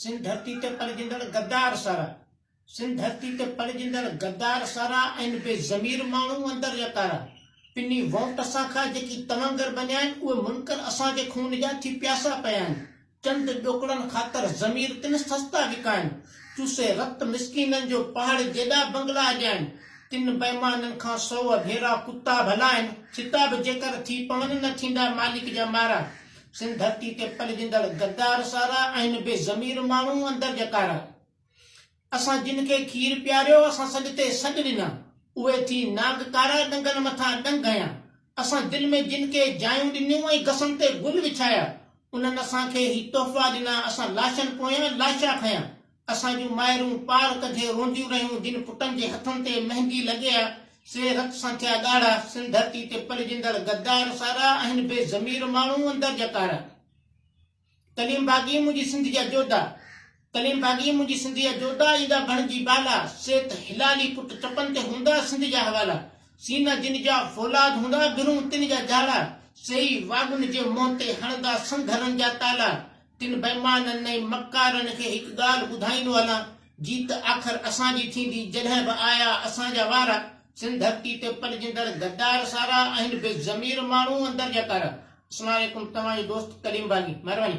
سنڌ ڌرتي تي پلجندڙ غدار سارا سنڌ ڌرتي تي پلجندڙ غدار سارا ۽ بي ضمير ماڻهو اندر يتارا پني ووٽ سان کان جيڪي توانگر بنيا آهن اهي منڪر اسان جي خون جا ٿي پياسا پيا آهن چند ڏوڪڙن خاطر ضمير تن سستا وڪائن چوسي رت مسڪينن جو پهاڙ جيڏا بنگلا اجائن تن بيمانن کان سو ڀيرا ڪتا ڀلا آهن ڇتا به جيڪر ٿي پون نه ٿيندا مالڪ جا مارا سنڌ ڌرتي تي پلجندڙ غدار سارا آهن بي ضمير ماڻهو اندر جا ڪارا اسان جن کي کير پياريو اسان سڏ تي سڏ ڏنا اهي ٿي ناگ ڪارا ڏنگن مٿان ڏنگ هنيا اسان دل ۾ جن کي جايون ڏنيون ۽ گسن تي گل وڇايا انهن اسان کي هي تحفا ڏنا اسان لاشن پويان لاشا کنيا اسان جون مائرون پار ڪڍي روئنديون رهيون، جن پٽن جي هٿن تي مهندي لڳي آ، سي رت سان ٿيا ڳاڙها، سن ڌرتي تي پلجندڙ غدار سارا آهن بي ضمير ماڻهو اندر جا ڪارا. ڪليم باغي منهنجي سنڌ جا جوڌا، ڪليم باغي منهنجي سنڌ جا جوڌا، ايندا بڻجي بالا، سي ته هلالي پٽ چپن تي هوندا سنڌ جا حوالا، سينا جن جا فولاد هوندا برون تن جا جاڙا، سي ئي واڳن جي منهن تي هڻندا سنگهرن جا تالا، تن بيمانن ۽ مڪارن کي هڪ ڳالهه ٻڌائيندو هلان، جيت آخر اسان جي ٿيندي، جڏهن به آيا اسان جا وارا، سنڌ ڌرتي تي پلجندڙ غدار سارا آهن بي ضمير ماڻهو اندر جا ڪارا. اسلام عليڪم توهان جو دوست ڪليم باغي مهرباني.